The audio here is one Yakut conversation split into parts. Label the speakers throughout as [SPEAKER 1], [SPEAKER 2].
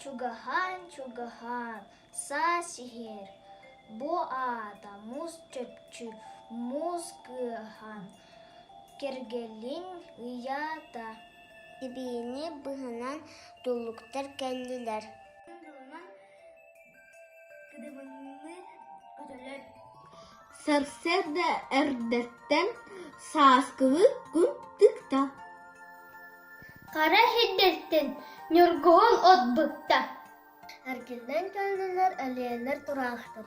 [SPEAKER 1] чугаһаан чугаһаан саас иһэр бу аата муус чопчу муус кыаһан кэргэлиҥ ыйаата сибиини быһынан тулуктар кэллилэр Сарсыарда эрдэттэн сааскыбыт күн тыкта Хара иһирдиттэн ньургуһун от быкта Эргиллэн кэллилэр, элээннэр тураахтар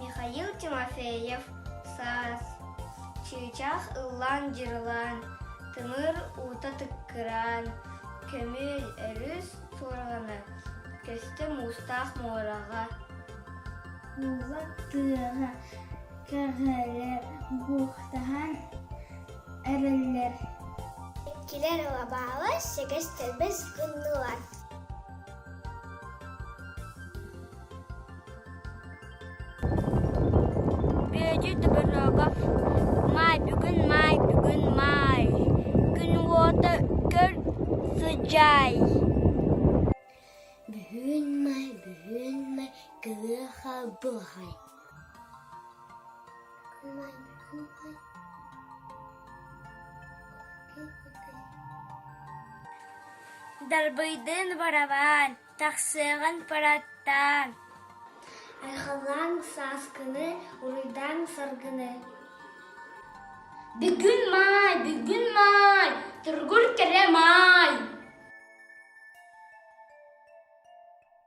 [SPEAKER 1] михаил тимофеев саас чыычаах ыллаан дьырылаан тымыр уута тыккыраан көмүөл өрүс суорҕана көстө муустаах муораҕа уулар тыаҕа көһөлөр буухтаһан эрэллэр иккилэр лабаалар сэгэс тэлбэс гыннылар Бүөтү тоборуога маай бүгүн маай бүгүн маай күн уота көр сыдьаай Бүгүн май бүгүн май кыаха буһай Дарбыйдыын барабаан, тахсыаҕын параттаан. Айхалаан сааскыны, уруйдаан саргыны. Бүгүн маай, бүгүн маай, тургур кэрэ маай.